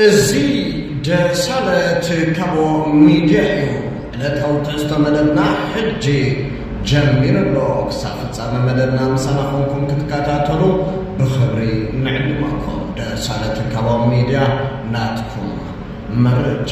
እዚ ደሳለት ካቦ ሚድያ እዩ ዕለታዊ ትሕዝቶ መደብና ሕጂ ጀሚሩ ኣሎ ክሳብ ፍጻመ መደብና ምሳና ኮንኩም ክትከታተሉ ብኽብሪ ንዕድመኩም ደሳለት ካቦ ሚድያ ናትኩም መረጃ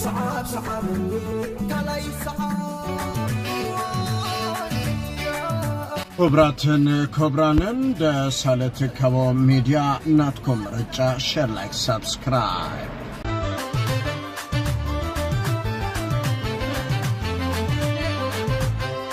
ስዓብ ስዓበኒ ካልኣይ ይስዓብ። ክብራትን ክብራንን ደሳለ ትካቦ ሚድያ ናትኩም ምርጫ ሸር ላይክ ሳብስክራይብ።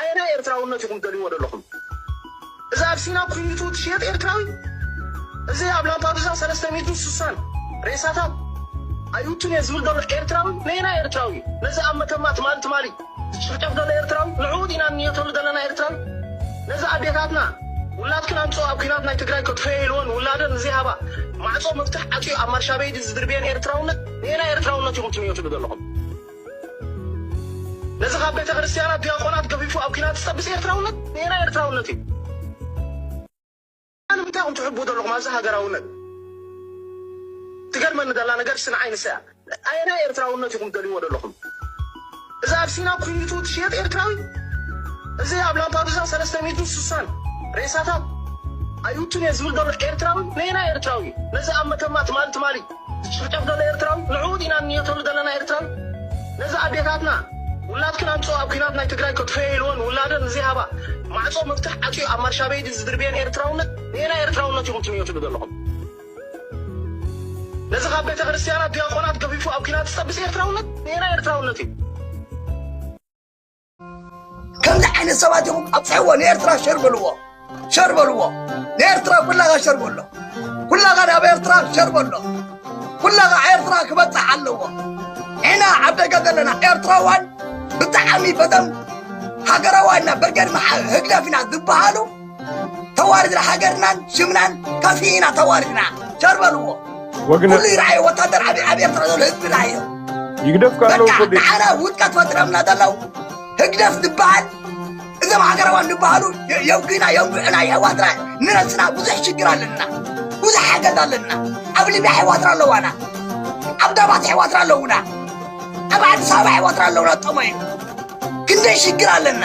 ኣየናይ ኤርትራውነት ኢኹም ትደልይዎ ደለኹም? እዚ ኣብ ሲና ኩይኒቱ ትሽየጥ ኤርትራዊ? እዚ ኣብ ላምፓዱዛ ሰለስተ ሚእትን ሱሳን ሬሳታት ኣይውቱን እየ ዝብል ደሎ ኤርትራዊ ነየናይ ኤርትራዊ እዩ? ነዚ ኣብ መተማ ትማሊ ትማሊ ዝጭፍጨፍ ደሎ ኤርትራዊ? ንዕኡ ዲና ንንየተሉ ደለና ኤርትራዊ? ነዚ ኣዴታትና ውላድክን ኣምጽኦ ኣብ ኩናት ናይ ትግራይ ከጥፈዮ ኢልወን ውላደን ንዘይሃባ ማዕጾ መፍትሕ ዓጽዩ ኣብ ማርሻቤዲ ዝድርብየን ኤርትራውነት ነየናይ ኤርትራውነት ኢኹም ትንየትሉ ደለኹም? ነዚ ካብ ቤተ ክርስትያና ዲያቆናት ገፊፉ ኣብ ኲናት ዝጠብስ ኤርትራውነት ንኤና ኤርትራውነት እዩ። ንምንታይ ኢኹም ትሕቡ ዘለኹም ኣብዚ ሃገራውነት? ትገርመኒ ዘላ ነገር ስን ዓይንሰ እያ። ኣየናይ ኤርትራውነት ኢኹም ደልይዎ ዘለኹም? እዚ ኣብ ሲና ኩኒቱ ትሽየጥ ኤርትራዊ እዚ ኣብ ላምፓዱዛ ሰለስተ ሚእቱ ስሳን ሬሳታት ኣይውቱን እየ ዝብል ዘሎ ኤርትራዊ ንኤና ኤርትራዊ ነዚ ኣብ መተማ ትማሊ ትማሊ ዝጭፍጨፍ ዘሎ ኤርትራዊ ንዕኡ ዲና ንንየተሉ ዘለና ኤርትራዊ ነዚ ኣዴታትና ውላድክን ኣምጽኦ ኣብ ኩናት ናይ ትግራይ ከጥፍኤ ኢልወን ውላደን ንዘይሃባ ማዕጾ መፍትሕ ዓጽዩ ኣብ ማርሻበይዲ ዝድርብየን ኤርትራውነት ነየናይ ኤርትራውነት ኢኹም ትንየትሉ ዘለኹም ነዚ ካብ ቤተክርስትያናት ድያቆናት ገፊፉ ኣብ ኩናት ዝጠብስ ኤርትራውነት ነየናይ ኤርትራውነት እዩ። ከምዚ ዓይነት ሰባት ኢኹም ኣብፅሕዎ ንኤርትራ ሸር በልዎ ሸር በልዎ ንኤርትራ ኩላኻ ሸር በሎ ኩላኻ ናብ ኤርትራ ሸር በሎ ኩላኻ ኤርትራ ክበፅሕ ኣለዎ ንሕና ኣብ ደገ ዘለና ኤርትራዋን ብጣዕሚ በተም ሃገራዋና በርገድ መሓ ህግደፍ ኢና ዝበሃሉ ተዋሪድና ሃገርናን ሽምናን ከፊእና ተዋሪድና ሸር በልዎ ወግነ ኩሉ ይርኣየ ወታደር ዓብዪ ዓብዪ ኤርትራ ዘሎ ህዝብና እዩ ይግደፍ ካለው በቃ ኮዲ ንዓና ውድቀት ፈጢረምና ዘለው ህግደፍ ዝበሃል እዞም ሃገራዋን ዝበሃሉ የ- የውግና የውግዕና የሕዋትና ንነስና ብዙሕ ሽግር ኣለና ብዙሕ ሓገዝ ኣለና ኣብ ሊብያ ኣሕዋትና ኣለዋና ኣብ ዳባት ኣሕዋትና ኣለውና ኣብ ኣዲስ ኣበባ ኣሕዋትና ኣለውና ጠመዩ ክንደይ ሽግር ኣለና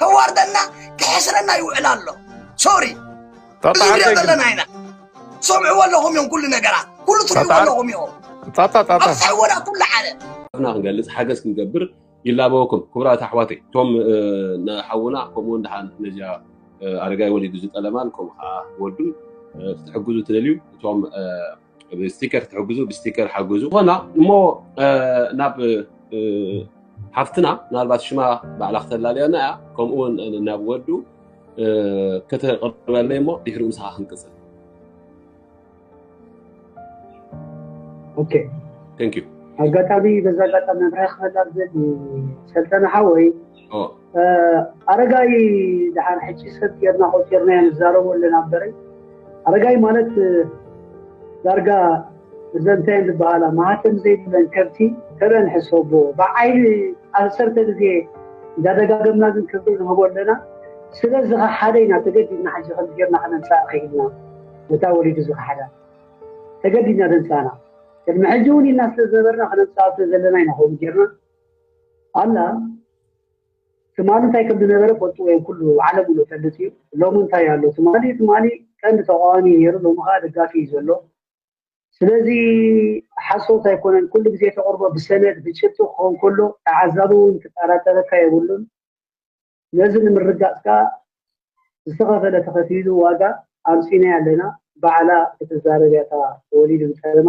ከዋርደና ክሕስረና ይውዕል ኣሎ ሶሪ እዚ ንሪኦ ዘለና ኢና ትሰምዕዎ ኣለኹም እዮም ኩሉ ነገራት ኩሉ ትርእይዎ ኣለኹም እዮም ኣብፅሕዎና ኩሉ ሓደ ና ክንገልፅ ሓገዝ ክንገብር ይላበወኩም ክቡራት ኣሕዋተይ እቶም ንሓውና ከምኡ ድሓን ነዚያ ኣረጋይ ወሊዱ ዝጠለማን ከምኡ ከዓ ወዱ ክትሕግዙ ትደልዩ እቶም ብስቲከር ትሕግዙ ብስቲከር ሓግዙ ኮና እሞ ናብ ሓፍትና ምናልባት ሽማ ባዕላ ክተላለየና እያ ከምኡውን ናብ ወዱ ከተቅርበለይ እሞ ድሕሪ ምሳኻ ክንቅፅል ኣጋጣሚ በዛ ኣጋጣሚ ኣብረክበላ ዝብል ሰልጠነ ሓወይ ኣረጋይ ድሓር ሕጂ ሰብ ጌርና ቆፂርናዮ ንዛረቦ ኣለና በረይ ኣረጋይ ማለት ዳርጋ እዘን እንታይ እየን ዝበሃላ ማህተም ዘይብለን ከብቲ ተበን ሕሰቦ ብዓይኒ ዓሰርተ ግዜ እንዳደጋገምና ግን ክብሪ ንህቦ ኣለና ስለ ዝኸሓደ ኢና ተገዲድና ሕጂ ከምዚ ጌርና ክነንሳእ ክኢልና ነታ ወሊዱ ዝኸሓዳ ተገዲድና ደንሳና ቅድሚ ሕጂ እውን ኢልና ስለ ዝነበርና ክነንሳእ ዘለና ኢና ከምኡ ጌርና ኣላ ትማሊ እንታይ ከም ዝነበረ ፈልጥዎ እዮም ኩሉ ዓለም ሎ ፈልጥ እዩ ሎሚ እንታይ ኣሎ ትማሊ ትማሊ ቀንዲ ተቃዋሚ ነይሩ ሎሚ ከዓ ደጋፊ እዩ ዘሎ ስለዚ ሓሶት ኣይኮነን ኩሉ ግዜ ተቅርቦ ብሰነድ ብጭብጢ ክኸውን ከሎ ተዓዛቢ እውን ክጠራጠረካ የብሉን ነዚ ንምርጋፅ ከዓ ዝተኸፈለ ተኸፊሉ ዋጋ ኣምፂናይ ኣለና ባዕላ ክትዛረብ እያ ወሊድ ፀለማ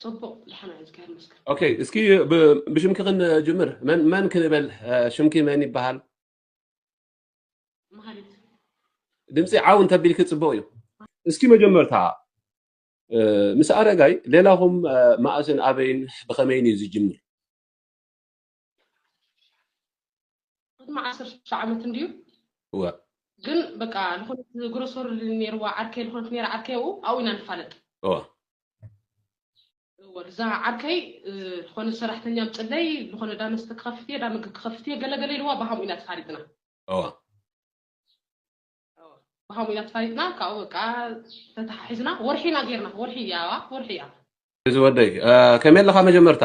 ፅቡቅ ድሓና እዝጋር መስክር ኦኬ እስኪ ብ- ብሽምኪ ክንጅምር መን መን ክንበል አ፣ ሽምኪ መን ይበሃል መሃሪት ድምፂ ዓው እንተቢልኪ ፅቡቅ እዩ እስኪ መጀመርታ እ፣ ምስ ኣረጋይ ሌላኹም እ፣ መኣስን ኣበይን ብኸመይን እዩ ዝጅምር ቅድሚ ዓሰርተ ዓመት እንድዩ እወ ግን በቃ ዝኾነት ግሮሰሪ ነይርዋ ዓርከይ ዝኾነት ነይራ ዓርከይ ኣብኡ ኣብኡ ኢና ንፋለጥ እወ እወ እዛ ዓርከይ እ፣ ዝኾነ ሰራሕተኛ ምፅለይ ዝኾነ ዳ መስተ ክኸፍት እየ ዳ ምግቢ ክኸፍት እየ ገለገለ ኢልዋ ብሃምኡ ኢና ተፋሊጥና እወ እወ፣ ብሃምኡ ኢና ተፋሊጥና ካብኡ በቃ ተተሓሒዝና ወርሒ ኢና ጌርና ወርሒ እያ ወርሒ እያ እዚ ወደይ እ፣ ከመይ ኣለኻ መጀመርታ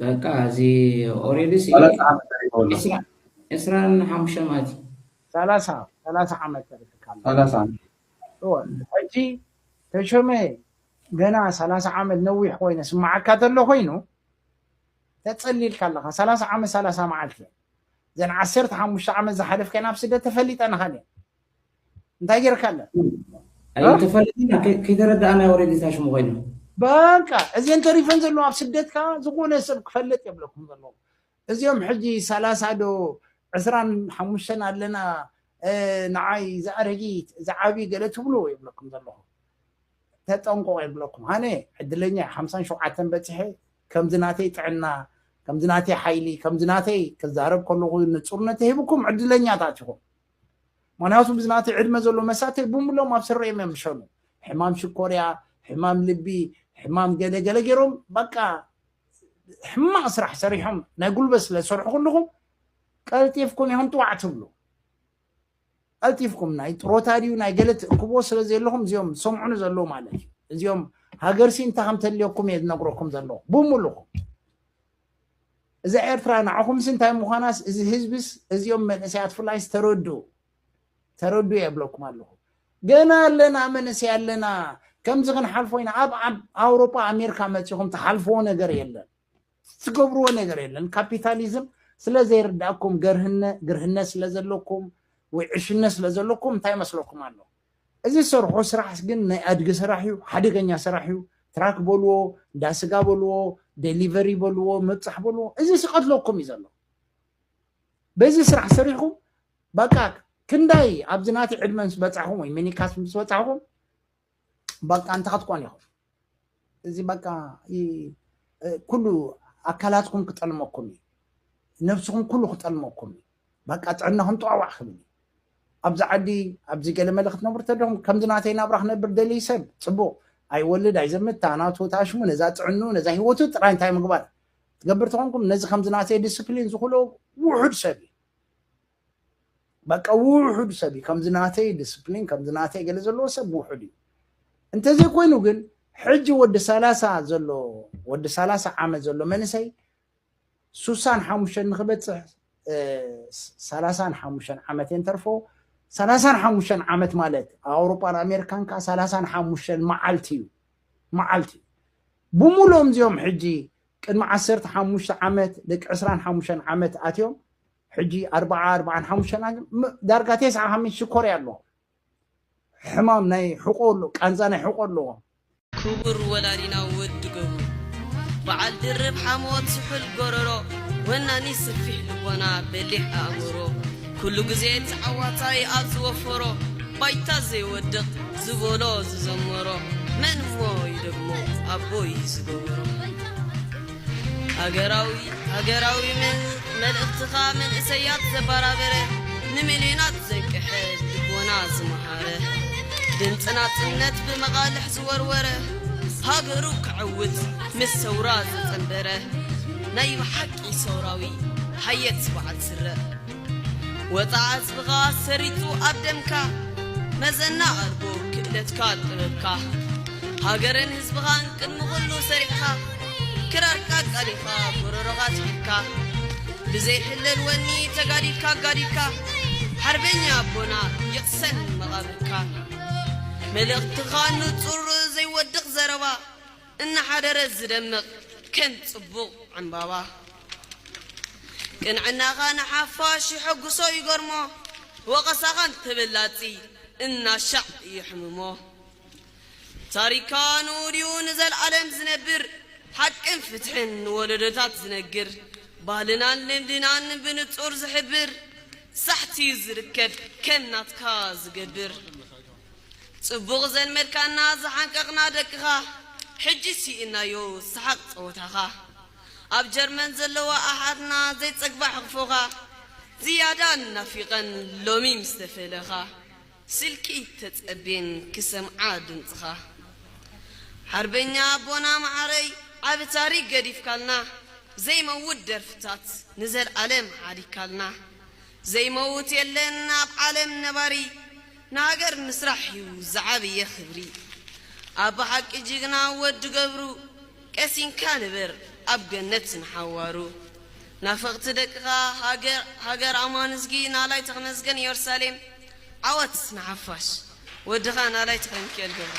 በቃ እዚ ኦሬዲ ሲ ሰላሳ ዓመት ተሪፎ ኣሎ ዕስራ ዕስራን ሓሙሽተ ማለት እዩ ሰላሳ ሰላሳ ዓመት ተሪፍካ ኣሎ ሰላሳ ዓመት እወ ሕጂ ተሾመ ገና ሰላሳ ዓመት ነዊሕ ኮይነ ስማዓካ ተሎ ኮይኑ ተጸሊልካ ኣለኻ ሰላሳ ዓመት ሰላሳ መዓልቲ እየን እዘን ዓሰርተ ሓሙሽተ ዓመት ዝሓለፍከን ኣብ ስደት ተፈሊጠናኻን እየን እንታይ ጌርካ ኣለ ኣይተፈለጥና ከይተረዳእና ወሬ ጌታ ሽሙ ኮይኑ በቃ እዚን ተሪፈን ዘለዋ ኣብ ስደት ከዓ ዝኾነ ሰብ ክፈልጥ የብለኩም ዘለዎም እዚኦም ሕጂ ሰላሳ ዶ ዕስራን ሓሙሽተን ኣለና ንዓይ ዝኣረጊት ዝዓብዪ ገለ ትብሉ ይብለኩም ዘለኹ ተጠንቆቕ ይብለኩም ኣነ ዕድለኛ ሓምሳን ሸውዓተን በፂሐ ከምዚ ናተይ ጥዕና ከምዚ ናተይ ሓይሊ ከምዚ ናተይ ክዛረብ ከለኹ ንፁርነት ተሂብኩም ዕድለኛታት ኢኹም ምክንያቱም ብዝናተይ ዕድመ ዘሎ መሳተይ ብምሎም ኣብ ስረ እዮም የምሸኑ ሕማም ሽኮርያ ሕማም ልቢ ሕማም ገለገለ ገይሮም በቃ ሕማቕ ስራሕ ሰሪሖም ናይ ጉልበት ስለ ዝሰርሑ ኩልኹም ቀልጢፍኩም ኢኹም ጥዋዕ ትብሉ ቀልጢፍኩም ናይ ጥሮታ ድዩ ናይ ገለ ትእክቦ ስለ ዘለኹም እዚኦም ዝሰምዑኒ ዘለዉ ማለት እዩ እዚኦም ሃገርሲ እንታይ ከም ተልየኩም እየ ዝነግረኩም ዘለኹ ብምሉኹም እዛ ኤርትራ ንዓኹምሲ እንታይ ምዃናስ እዚ ህዝብስ እዚኦም መንእሰያት ፍላይስ ተረድኡ ተረድኡ የብለኩም ኣለኹ ገና ኣለና መንእሰይ ኣለና ከምዚ ክንሓልፎ ኢና ኣብ ኣውሮጳ ኣሜሪካ መፂኹም ትሓልፍዎ ነገር የለን ትገብርዎ ነገር የለን ካፒታሊዝም ስለ ዘይርዳእኩም ገርህነ ግርህነ ስለ ዘለኩም ወይ ዕሽነት ስለ ዘለኩም እንታይ መስለኩም ኣሎ እዚ ዝሰርሖ ስራሕስ ግን ናይ ኣድጊ ስራሕ እዩ፣ ሓደገኛ ስራሕ እዩ፣ ትራክ በልዎ፣ እንዳ ስጋ በልዎ፣ ደሊቨሪ በልዎ፣ ምብፃሕ በልዎ፣ እዚስ ይቐትለኩም እዩ ዘሎ። በዚ ስራሕ ሰሪሕኩም በቃ ክንዳይ ኣብዚ ናተይ ዕድመ ምስ በፃሕኹም ወይ ሚኒካስ ምስ በፃሕኹም በቃ እንታይ ክትኮኑ ኢኹም? እዚ በቃ ኩሉ ኣካላትኩም ክጠልመኩም እዩ ነብስኹም ኩሉ ክጠልመኩም እዩ በቃ ጥዕናኹም ጠዋዕ ክብል እዩ ኣብዚ ዓዲ ኣብዚ ገለመለ ክትነብሩ ተደኹም ከምዚ ናተይ ናብራ ክነብር ደልይ ሰብ ፅቡቕ ኣይወልድ ኣይዘምት ታናቱ ታሽሙ ነዛ ጥዕኑ ነዛ ሂወቱ ጥራይ እንታይ ምግባር ትገብር ተኾንኩም ነዚ ከምዚ ናተይ ዲስፕሊን ዝኽእሎ ውሑድ ሰብ እዩ በቃ ውሑድ ሰብ እዩ ከምዚ ናተይ ዲስፕሊን ከምዚ ናተይ ገለ ዘለዎ ሰብ ውሑድ እዩ እንተዘይኮይኑ ግን ሕጂ ወዲ ሰላሳ ዘሎ ወዲ ሰላሳ ዓመት ዘሎ መንእሰይ ሱሳን ሓሙሽተን ንክበፅሕ ሰላሳን ሓሙሽተን ዓመት እየን ተርፎ ሰላሳን ሓሙሽተን ዓመት ማለት ኣብ ኣውሮፓን ኣሜሪካን ከዓ ሰላሳን ሓሙሽተን መዓልቲ እዩ መዓልቲ እዩ ብምሎም እዚኦም ሕጂ ቅድሚ ዓሰርተ ሓሙሽተ ዓመት ደቂ ዕስራን ሓሙሽተን ዓመት ኣትዮም ሕጂ ኣርብዓ ኣርብዓን ሓሙሽተን ኣን ም- ዳርጋ ቴስዓ ሓምሽ ሽኮርያ ኣለዎ ሕማም ናይ ሕቆ ኣሎ ቃንዛ ናይ ሕቆ ኣለዎ ክቡር ወላዲና ወዲ ገብሩ በዓል ድርብ ሓሞት ስሑል ጎረሮ ወናኒ ስፊሕ ልቦና በሊሕ ኣእምሮ ኩሉ ግዜ ተዓዋታይ ኣብ ዝወፈሮ ባይታ ዘይወድቕ ዝበሎ ዝዘመሮ መን እሞ ይደግሞ ኣቦይ ዝገበሮ ሃገራዊ ሃገራዊ መልእኽትኻ መንእሰያት ዘባራበረ ንሚልዮናት ዘንቅሐ ልቦና ዝመሃረ ድምፂ ናፅነት ብመቓልሕ ዝወርወረ ሃገሩ ክዕውት ምስ ሰውራ ዘፀንበረ ናይ ብሓቂ ሰውራዊ ሓየት ስብዓት ስረ ወጽዓ ህዝብኻ ሰሪጹ ኣብ ደምካ መዘና ኣርጎ ክእለትካ ጥበብካ ሃገርን ህዝብኻን ቅድሚ ኩሉ ሰሪዕኻ ክራርካ ኣቃሊኻ ጎሮሮኻ ትሒትካ ብዘይ ሕለል ወኒ ተጋዲልካ ኣጋዲድካ ሓርበኛ ኣቦና ይቕሰን መቓብርካ መልእኽትኻ ንጹር ዘይወድቕ ዘረባ እናሓደረት ዝደምቕ ከም ጽቡቕ ዕምባባ ቅንዕናኻ ንሓፋሽ የሐጉሶ ይገርሞ ወቐሳኻ ንተበላጺ እናሻዕ የሕምሞ ታሪካ ንኡድዩ ንዘልኣለም ዝነብር ሓቅን ፍትሕን ንወለዶታት ዝነግር ባህልናን ልምድናን ብንጹር ዝሕብር ሳሕቲዩ ዝርከብ ከም ናትካ ዝገብር ጽቡቕ ዘልመድካና ዝሓንቀቕና ደቅኻ ሕጂ ሲኢንናዮ ሰሓቕ ጸወታኻ ኣብ ጀርመን ዘለዋ ኣሓትና ዘይጸግባ ሕቕፎኻ ዝያዳ ናፊቐን ሎሚ ምስ ተፈለኻ ስልኪ ተጸብየን ክሰምዓ ድምጽኻ ሓርበኛ ኣቦና መዓረይ ዓቢ ታሪኽ ገዲፍካልና ዘይመውት ደርፍታት ንዘልኣለም ሓዲግካልና ዘይመውት የለን ኣብ ዓለም ነባሪ ንሃገር ምስራሕ ዩ ዝዓብየ ክብሪ። ኣብ ብሓቂ ጅግና ወዲ ገብሩ ቀሲንካ ንበር ኣብ ገነት ንሓዋሩ ናፈቅቲ ደቅካ ሃገር ሃገር ኣማንዝጊ ናላይ ተክነዝገን ዮርሳሌም ዓወት ንሓፋሽ ወድካ ናላይ ተክለሚኪኤል ገብሩ።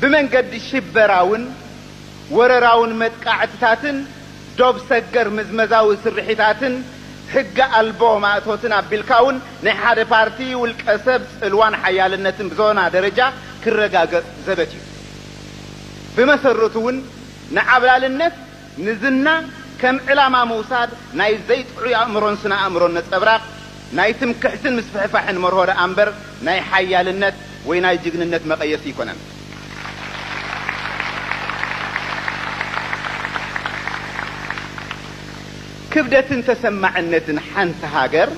ብመንገዲ ሽበራውን ወረራውን መጥቃዕትታትን ዶብ ሰገር ምዝመዛዊ ስርሒታትን ሕገ ኣልቦ ማእቶትን ኣቢልካውን ናይ ሓደ ፓርቲ ውልቀ ሰብ ጽልዋን ሓያልነትን ብዞና ደረጃ ክረጋገጽ ዘበት እዩ። ብመሰረቱውን ንዓብላልነት፣ ንዝና ከም ዕላማ ምውሳድ ናይ ዘይጥዑይ ኣእምሮን ስነ-ኣእምሮን ነጸብራቕ፣ ናይ ትምክሕትን ምስፍሕፋሕን መርሆ ደኣ እምበር ናይ ሓያልነት ወይ ናይ ጅግንነት መቐየሲ ኣይኮነን። ክብደትን ተሰማዕነትን ሓንቲ ሃገር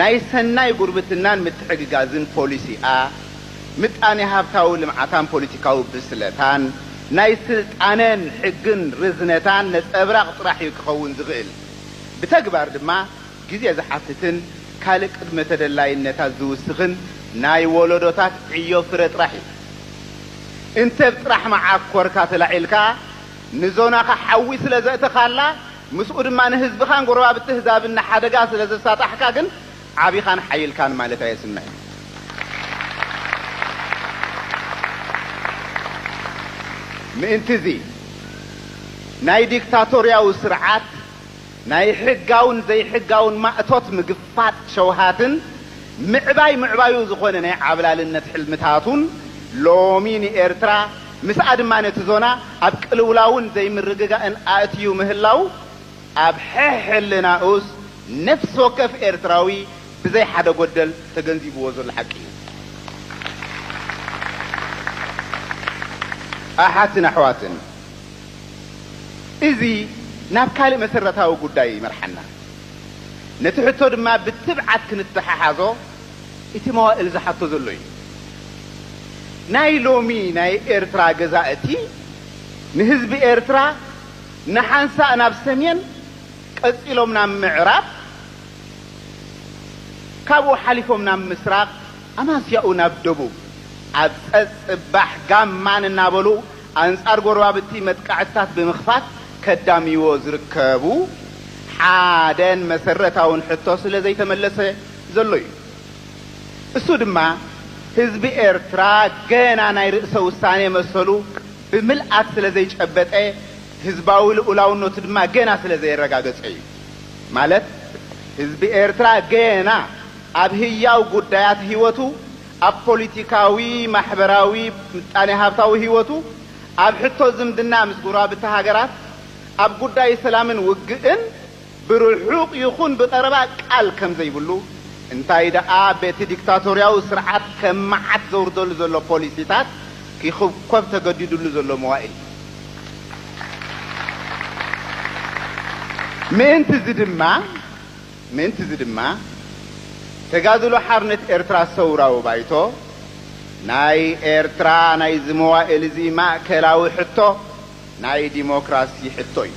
ናይ ሰናይ ጉርብትናን ምትሕግጋዝን ፖሊሲኣ፣ ምጣኔ-ሃብታዊ ልምዓታን ፖሊቲካዊ ብስለታን፣ ናይ ስልጣነን ሕግን ርዝነታን ነጸብራቕ ጥራሕ እዩ ክኸውን ዝኽእል። ብተግባር ድማ ግዜ ዝሓትትን ካልእ ቅድመ ተደላይነታት ዝውስኽን ናይ ወለዶታት ዕዮ ፍረ ጥራሕ እዩ። እንተ ብ ጥራሕ መዓኮርካ ተላዒልካ ንዞናኻ ሓዊ ስለ ዘእተኻላ፣ ምስኡ ድማ ንህዝብኻን ጎረባብቲ ህዛብን ንሓደጋ ስለ ዘሳጣሕካ ግን፣ ዓቢኻን ሓይልካን ማለት ኣየስምዕን። ምእንቲ'ዚ፣ ናይ ዲክታቶርያዊ ስርዓት ናይ ሕጋውን ዘይሕጋውን ማእቶት ምግፋጥ ሸውሃትን ምዕባይ ምዕባዩ ዝኾነ ናይ ዓብላልነት ሕልምታቱን ሎሚ ንኤርትራ ምስኣ ድማ ነቲ ዞና ኣብ ቅልውላውን ዘይምርግጋእን ኣእትዩ ምህላዉ ኣብ ሕሕልናኡስ ነፍሲ ወከፍ ኤርትራዊ ብዘይ ሓደ ጎደል ተገንዚብዎ ዘሎ ሓቂ እዩ። ኣሓትን ኣሕዋትን እዚ ናብ ካልእ መሰረታዊ ጉዳይ ይመርሓና። ነቲ ሕቶ ድማ ብትብዓት ክንተሓሓዞ እቲ መዋእል ዝሓቶ ዘሎ እዩ። ናይ ሎሚ ናይ ኤርትራ ገዛእቲ ንህዝቢ ኤርትራ፣ ንሓንሳእ ናብ ሰሜን ቀጺሎም ናብ ምዕራብ ካብኡ ሓሊፎም ናብ ምስራቕ ኣማስያኡ ናብ ደቡብ ኣብ ጸጽባሕ ጋማን እናበሉ ኣንጻር ጎረባብቲ መጥቃዕትታት ብምኽፋት ከዳምይዎ ዝርከቡ ሓደን መሰረታውን ሕቶ ስለ ዘይተመለሰ ዘሎ እዩ። እሱ ድማ ህዝቢ ኤርትራ ገና ናይ ርእሰ ውሳኔ መሰሉ ብምልኣት ስለ ዘይጨበጠ፣ ህዝባዊ ልኡላውነቱ ድማ ገና ስለ ዘየረጋገጸ እዩ። ማለት ህዝቢ ኤርትራ ገና ኣብ ህያው ጉዳያት ህይወቱ፣ ኣብ ፖሊቲካዊ፣ ማሕበራዊ፣ ምጣኔ-ሃብታዊ ህይወቱ፣ ኣብ ሕቶ ዝምድና ምስ ጎረባብቲ ሃገራት፣ ኣብ ጉዳይ ሰላምን ውግእን፣ ብርሑቕ ይኹን ብቐረባ ቃል ከም ዘይብሉ፣ እንታይ ደኣ በቲ ዲክታቶርያዊ ስርዓት ከም መዓት ዘውርደሉ ዘሎ ፖሊሲታት ኪዅብኰብ ተገዲዱሉ ዘሎ መዋእል እዩ። ምእንት'ዚ ድማ ምእንት'ዚ ድማ፣ ተጋድሎ ሓርነት ኤርትራ ሰውራዊ ባይቶ፣ ናይ ኤርትራ ናይ'ዚ መዋእል'ዚ ማእከላዊ ሕቶ፣ ናይ ዲሞክራሲ ሕቶ እዩ።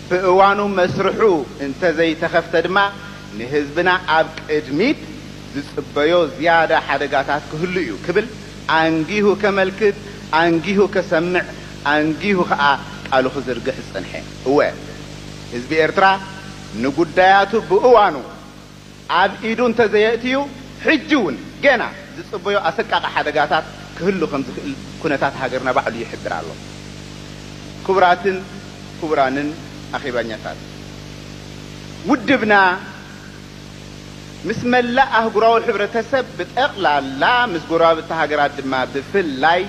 ብእዋኑ መስርሑ እንተዘይተኸፍተ ድማ ንህዝብና ኣብ ቅድሚት ዝጽበዮ ዝያዳ ሓደጋታት ክህሉ እዩ ክብል ኣንጊሁ ከመልክት፣ ኣንጊሁ ከሰምዕ፣ ኣንጊሁ ከኣ ቃሉ ክዝርግሕ ዝጸንሐ። እወ ህዝቢ ኤርትራ ንጉዳያቱ ብእዋኑ ኣብ ኢዱ እንተዘየእትዩ ሕጂ እውን ገና ዝጽበዮ ኣሰቃቒ ሓደጋታት ክህሉ ከምዝኽእል ኩነታት ሃገርና ባዕሉ ይሕብር ኣሎ። ክቡራትን ክቡራንን ኣኼባኛታት፣ ውድብና ምስ መላእ ኣህጉራዊ ሕብረተሰብ ብጠቕላላ ምስ ጎረባብቲ ሃገራት ድማ ብፍላይ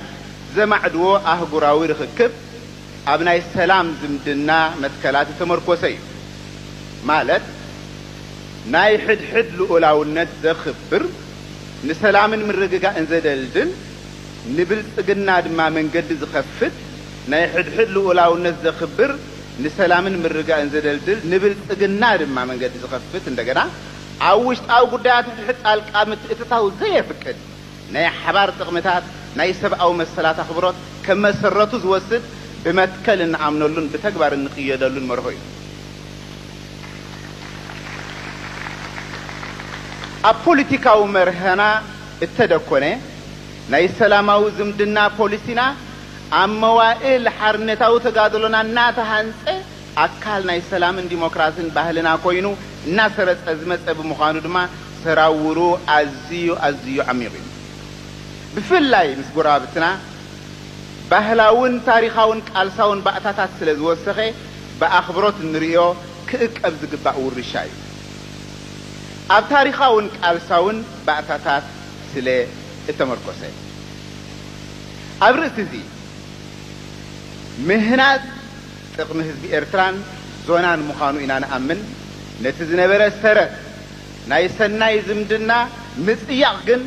ዘማዕድዎ ኣህጉራዊ ርኽክብ፣ ኣብ ናይ ሰላም ዝምድና መትከላት ዝተመርኮሰ እዩ። ማለት ናይ ሕድሕድ ልኡላውነት ዘኽብር፣ ንሰላምን ምርግጋእን ዘደልድል፣ ንብልጽግና ድማ መንገዲ ዝኸፍት፣ ናይ ሕድሕድ ልኡላውነት ዘኽብር፣ ንሰላምን ምርጋእን ዘደልድል፣ ንብልጽግና ድማ መንገዲ ዝኸፍት፣ እንደገና ኣብ ውሽጣዊ ጉዳያት ሕድሕድ ጣልቃ ምትእትታው ዘየፍቅድ፣ ናይ ሓባር ጥቕምታት፣ ናይ ሰብኣዊ መሰላት ኣኽብሮት ከም መሰረቱ ዝወስድ ብመትከል እንኣምነሉን ብተግባር እንቕየደሉን መርሆ እዩ። ኣብ ፖሊቲካዊ መርህና እተደኮነ ናይ ሰላማዊ ዝምድና ፖሊሲና ኣብ መዋእል ሓርነታዊ ተጋድሎና እናተሃንጸ፣ ኣካል ናይ ሰላምን ዲሞክራስን ባህልና ኮይኑ እናሰረፀ ዝመፀ ብምዃኑ ድማ ሰራውሩ ኣዝዩ ኣዝዩ ዓሚቕ እዩ። ብፍላይ ምስ ጎረባብትና ባህላውን ታሪኻውን ቃልሳውን ባእታታት ስለ ዝወሰኸ ብኣኽብሮት እንርእዮ ክእቀብ ዝግባእ ውርሻ እዩ። ኣብ ታሪኻውን ቃልሳውን ባእታታት ስለ እተመርኮሰ ኣብ ርእሲ እዚ ምህናፅ፣ ጥቕሚ ህዝቢ ኤርትራን ዞናን ምዃኑ ኢና ንኣምን። ነቲ ዝነበረ ሰረት ናይ ሰናይ ዝምድና ምጽያቕ ግን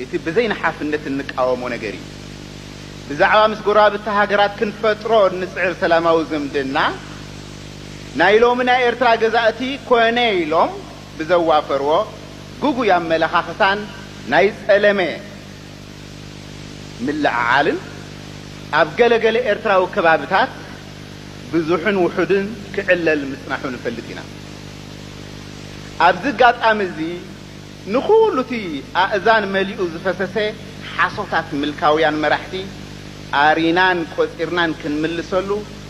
እቲ ብዘይንሓፍነት እንቃወሞ ነገር እዩ። ብዛዕባ ምስ ጎረባብቲ ሃገራት ክንፈጥሮ እንጽዕር ሰላማዊ ዝምድና፣ ናይ ሎሚ ናይ ኤርትራ ገዛእቲ ኮነ ኢሎም ብዘዋፈርዎ ግጉይ ኣመለኻኽታን ናይ ጸለመ፣ ምልዕዓልን ኣብ ገለ ገለ ኤርትራዊ ከባብታት ብዙሕን ውሑድን ክዕለል ምጽናሑ ንፈልጥ ኢና። ኣብዚ ኣጋጣሚ እዚ ንኹሉ እቲ ኣእዛን መሊኡ ዝፈሰሰ ሓሶታት ምልካውያን መራሕቲ ኣሪናን ቆጺርናን ክንምልሰሉ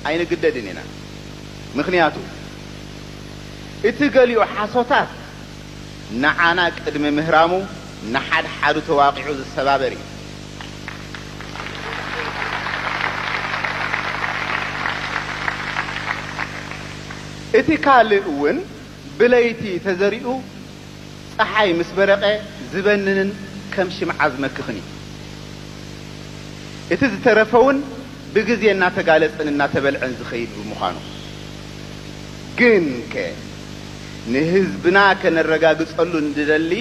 ኣይንግደድን ኢና። ምኽንያቱ እቲ ገሊኡ ሓሶታት፣ ንዓና ቅድሚ ምህራሙ ንሓድሓዱ ተዋቒዑ ዝሰባበር እዩ። እቲ ካልእ እውን ብለይቲ ተዘሪኡ ፀሓይ ምስ በረቐ ዝበንንን ከም ሽምዓ ዝመክኽን እዩ። እቲ ዝተረፈውን ብግዜ እናተጋለፅን እናተበልዐን ዝኸይድ ብምዃኑ። ግንከ ንህዝብና ከነረጋግጸሉ እንድደሊ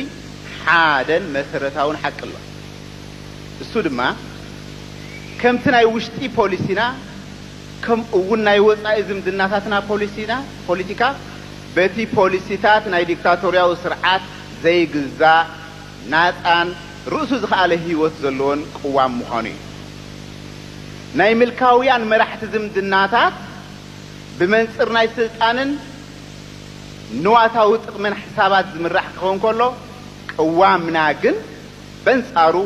ሓደን መሰረታውን ሓቂ ኣሎ። እሱ ድማ ከምቲ ናይ ውሽጢ ፖሊሲና ከምኡ'ውን ናይ ወጻኢ ዝምድናታትና ፖሊሲና፣ ፖሊቲካ፣ በቲ ፖሊሲታት ናይ ዲክታቶርያዊ ስርዓት ዘይግዛእ፣ ናጻን ርእሱ ዝኸኣለ ህይወት ዘለዎን ቅዋም ምዃኑ እዩ። ናይ ምልካውያን መራሕቲ ዝምድናታት ብመንጽር ናይ ስልጣንን ንዋታዊ ጥቕምን ሕሳባት ዝምራሕ ክኸውን ከሎ፣ ቅዋምና ግን በንጻሩ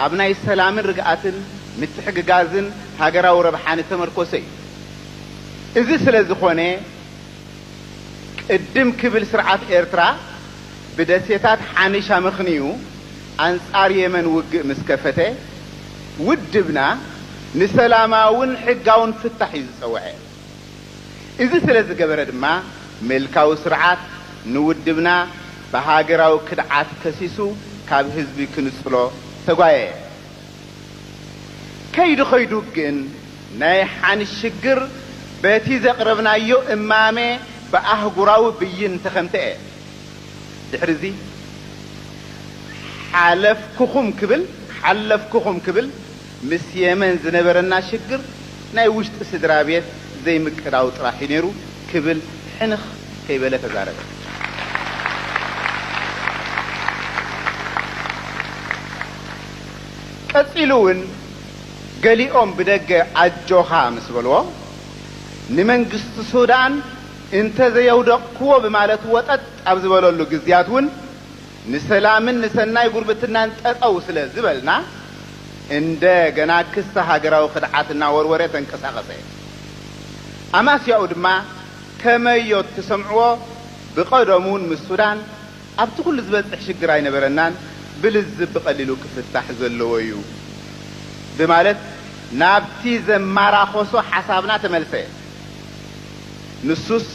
ኣብ ናይ ሰላምን ርግኣትን ምትሕግጋዝን ሃገራዊ ረብሓን እተመርኮሰ እዩ። እዚ ስለ ዝኾነ ቅድም ክብል ስርዓት ኤርትራ ብደሴታት ሓኒሽ ኣመኽንዩ ኣንጻር የመን ውግእ ምስ ከፈተ፣ ውድብና ንሰላማውን ሕጋውን ፍታሕ እዩ ዝጸውዐ። እዚ ስለ ዝገበረ ድማ ምልካዊ ስርዓት ንውድብና ብሃገራዊ ክድዓት ከሲሱ ካብ ህዝቢ ክንጽሎ ተጓየየ። ከይዱ ከይዱ ግን ናይ ሓን ሽግር በቲ ዘቕረብናዮ እማመ ብኣህጉራዊ ብይን ተኸንተኤ። ድሕሪዚ ሓለፍኩኹም ክብል ሓለፍኩኹም ክብል ምስ የመን ዝነበረና ሽግር ናይ ውሽጢ ስድራቤት ዘይምቅዳው ጥራሕ እዩ ነይሩ ክብል ሕንኽ ከይበለ ተዛረበ። ቀጺሉ እውን ገሊኦም ብደገ ኣጆኻ ምስ በልዎ ንመንግስቲ ሱዳን፣ እንተ ዘየውደቕኩዎ ብማለት ወጠጥ ኣብ ዝበለሉ ግዝያት እውን ንሰላምን ንሰናይ ጉርብትናን ጠጠው ስለ ዝበልና እንደ ገና ክሰ ሃገራዊ ክድዓት እናወርወረ ተንቀሳቐሰ። ኣማስያኡ ድማ ከመዮ እትሰምዕዎ ብቐደሙ እውን ምስ ሱዳን ኣብቲ ኩሉ ዝበጽሕ ሽግር ኣይነበረናን ብልዝብ ብቐሊሉ ክፍታሕ ዘለዎ እዩ ብማለት ናብቲ ዘማራኾሶ ሓሳብና ተመልሰ። ንሱስ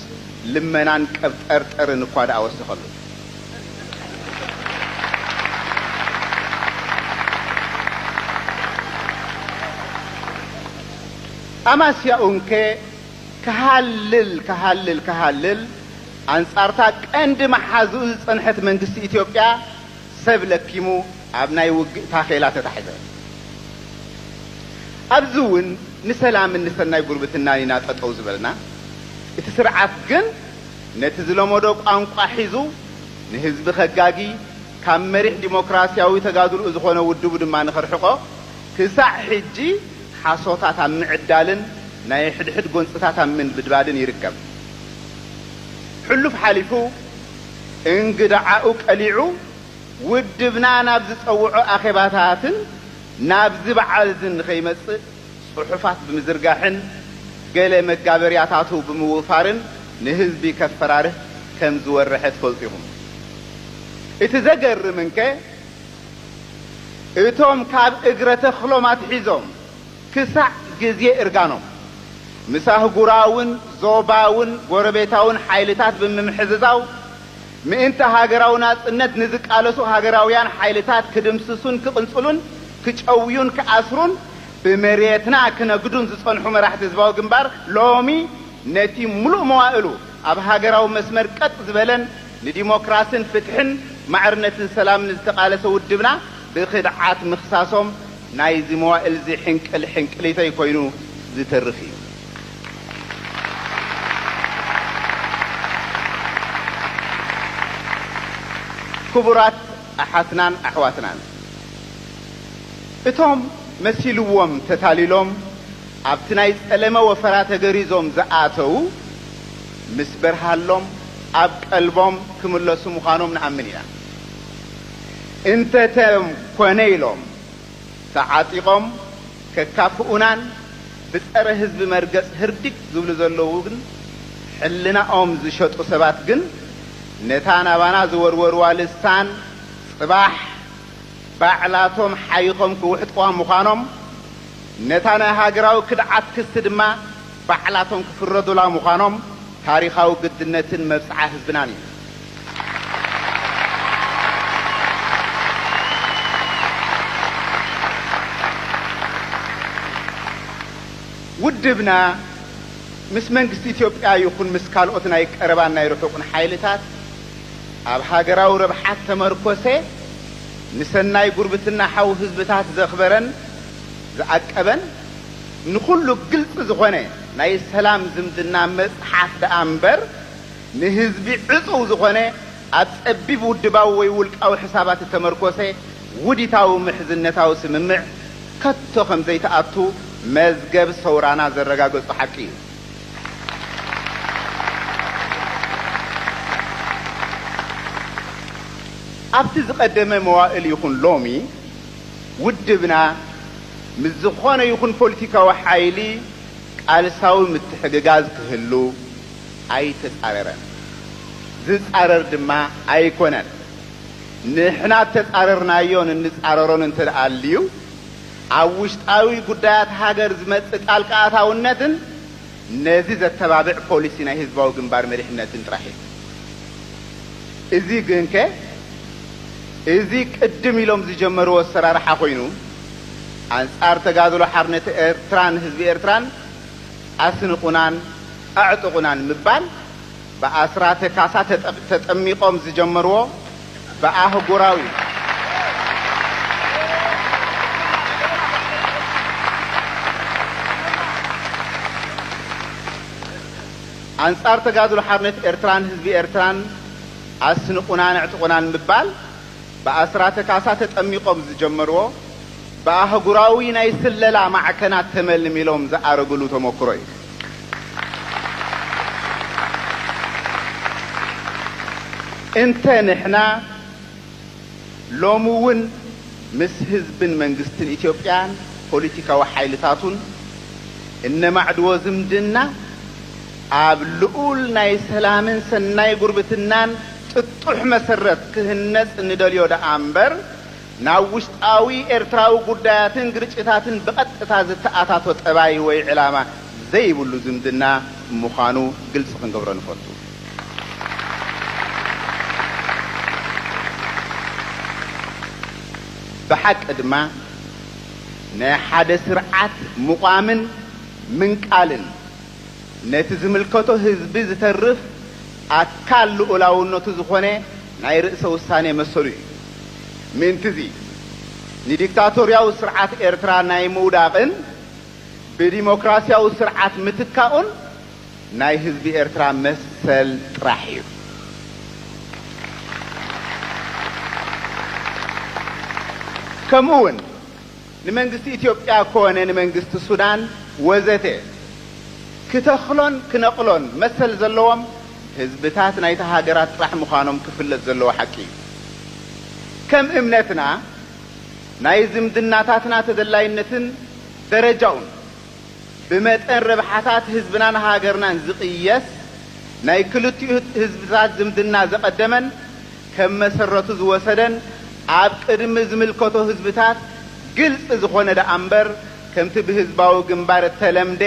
ልመናን ቀብጠርጠርን እኳ ደኣ ወሰኸሉ። ኣማስያኡ እንከ ክሃልል ክሃልል ክሃልል ኣንጻርታ ቀንዲ መሓዝኡ ዝጸንሐት መንግስቲ ኢትዮጵያ ሰብ ለኪሙ ኣብ ናይ ውግእ ታኼላ ተታሕዘ። ኣብዚ ውን ንሰላምን ንሰናይ ጉርብትናን ኢና ጠጠው ዝበልና፣ እቲ ስርዓት ግን ነቲ ዝለመዶ ቋንቋ ሒዙ ንህዝቢ ከጋጊ፣ ካብ መሪሕ ዲሞክራሲያዊ ተጋድልኡ ዝኾነ ውድቡ ድማ ንኸርሕቆ ክሳዕ ሕጂ ሓሶታት ኣብ ምዕዳልን ናይ ሕድሕድ ጎንፅታት ኣብ ምንብድባድን ይርከብ። ሕሉፍ ሓሊፉ፣ እንግድዓኡ ቀሊዑ ውድብና ናብ ዝጸውዖ ኣኼባታትን ናብዚ በዓል'ዚ ንኸይመጽእ ጽሑፋት ብምዝርጋሕን ገለ መጋበርያታቱ ብምውፋርን ንህዝቢ ከፈራርህ ከም ዝወረሐ ትፈልጡ ኢኹም። እቲ ዘገርም እንከ እቶም ካብ እግረ ተኽሎም ኣትሒዞም፣ ክሳዕ ግዜ እርጋኖም፣ ምስ ኣህጉራውን ዞባውን ጎረቤታውን ሓይልታት ብምምሕዝዛው፣ ምእንቲ ሃገራዊ ናጽነት ንዝቃለሱ ሃገራውያን ሓይልታት ክድምስሱን ክቕንጽሉን ክጨውዩን ክኣስሩን ብመሬትና ክነግዱን ዝጸንሑ መራሕቲ ህዝባዊ ግንባር ሎሚ ነቲ ምሉእ መዋእሉ ኣብ ሃገራዊ መስመር ቀጥ ዝበለን ንዲሞክራስን ፍትሕን ማዕርነትን ሰላምን ዝተቓለሰ ውድብና ብኽድዓት ምኽሳሶም ናይዚ መዋእልዚ ሕንቅል ሕንቅሊተይ ኮይኑ ዝተርፍ እዩ። ክቡራት ኣሓትናን ኣሕዋትናን፣ እቶም መሲልዎም ተታሊሎም ኣብቲ ናይ ጸለመ ወፈራ ተገሪዞም ዝኣተዉ፣ ምስ በርሃሎም ኣብ ቀልቦም ክምለሱ ምዃኖም ንኣምን ኢና። እንተተኮነ ኢሎም ተዓጢቆም ከካፍኡናን ብጸረ ህዝቢ መርገጽ ህርዲግ ዝብሉ ዘለዉ ግን ሕልናኦም ዝሸጡ ሰባት ግን ነታ ናባና ዝወርወርዋ ልሳን ጽባሕ ባዕላቶም ሓይኾም ክውሕጥዋ ምዃኖም ነታ ናይ ሃገራዊ ክድዓት ክሲ ድማ ባዕላቶም ክፍረዱላ ምዃኖም ታሪኻዊ ግድነትን መብጽዓ ህዝብናን እዩ። ውድብና ምስ መንግስቲ ኢትዮጵያ ይኹን ምስ ካልኦት ናይ ቀረባን ናይ ርሑቕን ሓይልታት ኣብ ሃገራዊ ረብሓ እተመርኮሰ ንሰናይ ጉርብትና ሓው ህዝብታት ዘኽበረን ዝኣቀበን ንኹሉ ግልፂ ዝኾነ ናይ ሰላም ዝምድና መፅሓፍ ደኣ እምበር ንህዝቢ ዕፁው ዝኾነ ኣብ ፀቢብ ውድባዊ ወይ ውልቃዊ ሕሳባት እተመርኮሰ ውዲታዊ ምሕዝነታዊ ስምምዕ ከቶ ከምዘይትኣቱ መዝገብ ሰውራና ዘረጋገፆ ሓቂ እዩ። ኣብቲ ዝቐደመ መዋእል ይኹን ሎሚ፣ ውድብና ምስ ዝኾነ ይኹን ፖሊቲካዊ ሓይሊ ቃልሳዊ ምትሕግጋዝ ክህሉ ኣይተጻረረን፣ ዝጻረር ድማ ኣይኮነን። ንሕና እተጻረርናዮን እንጻረሮን እንተድኣ ኣልዩ፣ ኣብ ውሽጣዊ ጉዳያት ሃገር ዝመጽእ ጣልቃ ኣታውነትን ነዚ ዘተባብዕ ፖሊሲ ናይ ህዝባዊ ግንባር መሪሕነትን ጥራሕ እዩ። እዚ ግንከ እዚ ቅድም ኢሎም ዝጀመርዎ ኣሰራርሓ ኮይኑ ኣንጻር ተጋድሎ ሓርነት ኤርትራን ህዝቢ ኤርትራን ኣስንቑናን ኣዕጥቑናን ምባል፣ ብኣስራተ ካሳ ተጠሚቖም ዝጀመርዎ ብኣህጉራዊ ኣንጻር ተጋድሎ ሓርነት ኤርትራን ህዝቢ ኤርትራን ኣስንቁናን ኣዕጥቁናን ምባል ብኣስራተ ካሳ ተጠሚቖም ዝጀመርዎ ብኣህጉራዊ ናይ ስለላ ማዕከናት ተመልሚሎም ዝኣረግሉ ተሞክሮ እዩ። እንተ ንሕና ሎሚ ውን ምስ ህዝብን መንግስትን ኢትዮጵያን ፖሊቲካዊ ሓይልታቱን እነማዕድዎ ዝምድና ኣብ ልኡል ናይ ሰላምን ሰናይ ጉርብትናን ጥጡሕ መሰረት ክህነጽ ንደልዮ ደኣ እምበር ናብ ውሽጣዊ ኤርትራዊ ጉዳያትን ግርጭታትን ብቐጥታ ዝተኣታቶ ጠባይ ወይ ዕላማ ዘይብሉ ዝምድና ምዃኑ ግልጺ ክንገብሮ ንፈቱ። ብሓቂ ድማ ናይ ሓደ ስርዓት ምቛምን ምንቃልን ነቲ ዝምልከቶ ህዝቢ ዝተርፍ ኣካል ልኡላውነቱ ዝኾነ ናይ ርእሰ ውሳኔ መሰሉ እዩ። ምእንቲ'ዚ፣ ንዲክታቶርያዊ ስርዓት ኤርትራ ናይ ምውዳቕን ብዲሞክራስያዊ ስርዓት ምትካኡን ናይ ህዝቢ ኤርትራ መሰል ጥራሕ እዩ። ከምኡ'ውን፣ ንመንግስቲ ኢትዮጵያ ኮነ ንመንግስቲ ሱዳን ወዘተ ክተኽሎን ክነቕሎን መሰል ዘለዎም ህዝብታት ናይታ ሃገራት ጥራሕ ምዃኖም ክፍለጥ ዘለዎ ሓቂ እዩ። ከም እምነትና ናይ ዝምድናታትና ተደላይነትን ደረጃኡን ብመጠን ረብሓታት ህዝብናን ሃገርናን ዝቕየስ ናይ ክልቲኡ ህዝብታት ዝምድና ዘቐደመን ከም መሰረቱ ዝወሰደን ኣብ ቅድሚ ዝምልከቶ ህዝብታት ግልፂ ዝኾነ ደኣምበር ከምቲ ብህዝባዊ ግንባር እተለምደ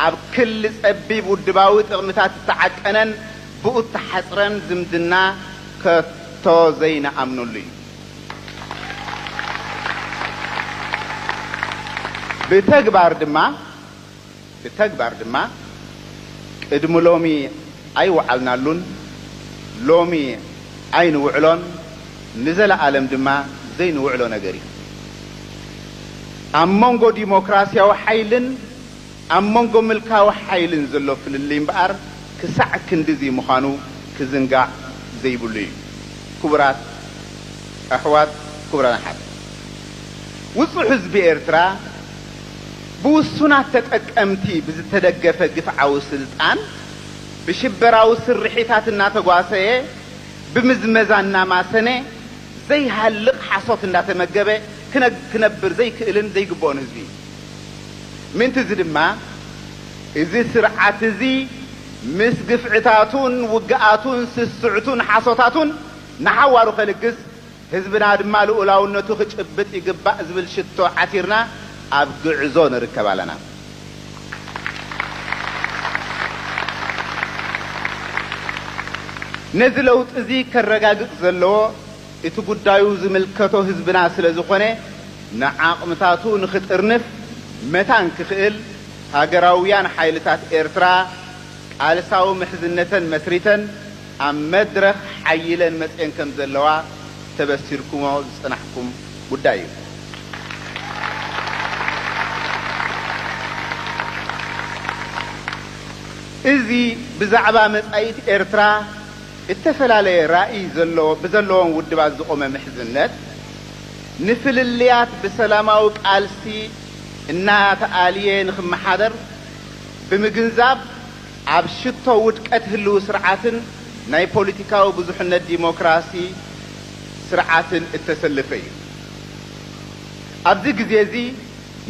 ኣብ ክሊ ፀቢብ ውድባዊ ጥቕምታት እተዓቀነን ብኡተሓፅረን ዝምድና ከቶ ዘይንኣምነሉ እዩ። ብተግባር ድማ ብተግባር ድማ ቅድሚ ሎሚ ኣይወዓልናሉን፣ ሎሚ ኣይንውዕሎን፣ ንዘለኣለም ድማ ዘይንውዕሎ ነገር እዩ። ኣብ መንጎ ዲሞክራሲያዊ ሓይልን ኣብ መንጎ ምልካዊ ሓይልን ዘሎ ፍልልይ እምበኣር ክሳዕ ክንድዚ ምዃኑ ክዝንጋዕ ዘይብሉ እዩ። ክቡራት ኣሕዋት ክቡራን ኣሓት፣ ውጹዕ ህዝቢ ኤርትራ ብውሱናት ተጠቀምቲ ብዝተደገፈ ግፍዓዊ ስልጣን ብሽበራዊ ስርሒታት እናተጓሰየ ብምዝመዛ እናማሰነ ዘይሃልቕ ሓሶት እንዳተመገበ ክነብር ዘይክእልን ዘይግበኦን ህዝቢ እዩ። ምእንቲ እዚ ድማ እዚ ስርዓት እዚ ምስ ግፍዕታቱን ውግኣቱን ስስዕቱን ሓሶታቱን ንሓዋሩ ከልግስ ህዝብና ድማ ልኡላውነቱ ክጭብጥ ይግባእ ዝብል ሽቶ ዓቲርና ኣብ ግዕዞ ንርከብ ኣለና። ነዚ ለውጢ እዚ ከረጋግጽ ዘለዎ እቲ ጉዳዩ ዝምልከቶ ህዝብና ስለዝኾነ ንዓቕምታቱ ንክጥርንፍ መታን ክኽእል ሃገራውያን ሓይልታት ኤርትራ ቃልሳዊ ምሕዝነተን መስሪተን ኣብ መድረኽ ሓይለን መጺኤን ከምዘለዋ ተበሲርኩሞ ዝጸናሕኩም ጉዳይ እዩ። እዚ ብዛዕባ መጻኢት ኤርትራ፣ እተፈላለየ ራኢ ዘለዎ ብዘለዎም ውድባት ዝቖመ ምሕዝነት፣ ንፍልልያት ብሰላማዊ ቃልሲ እናተኣልየ ንኽመሓደር ብምግንዛብ፣ ኣብ ሽቶ ውድቀት ህልዊ ስርዓትን ናይ ፖሊቲካዊ ብዙሕነት ዲሞክራሲ ስርዓትን እተሰለፈ ኢዩ። ኣብዚ ግዜ'ዚ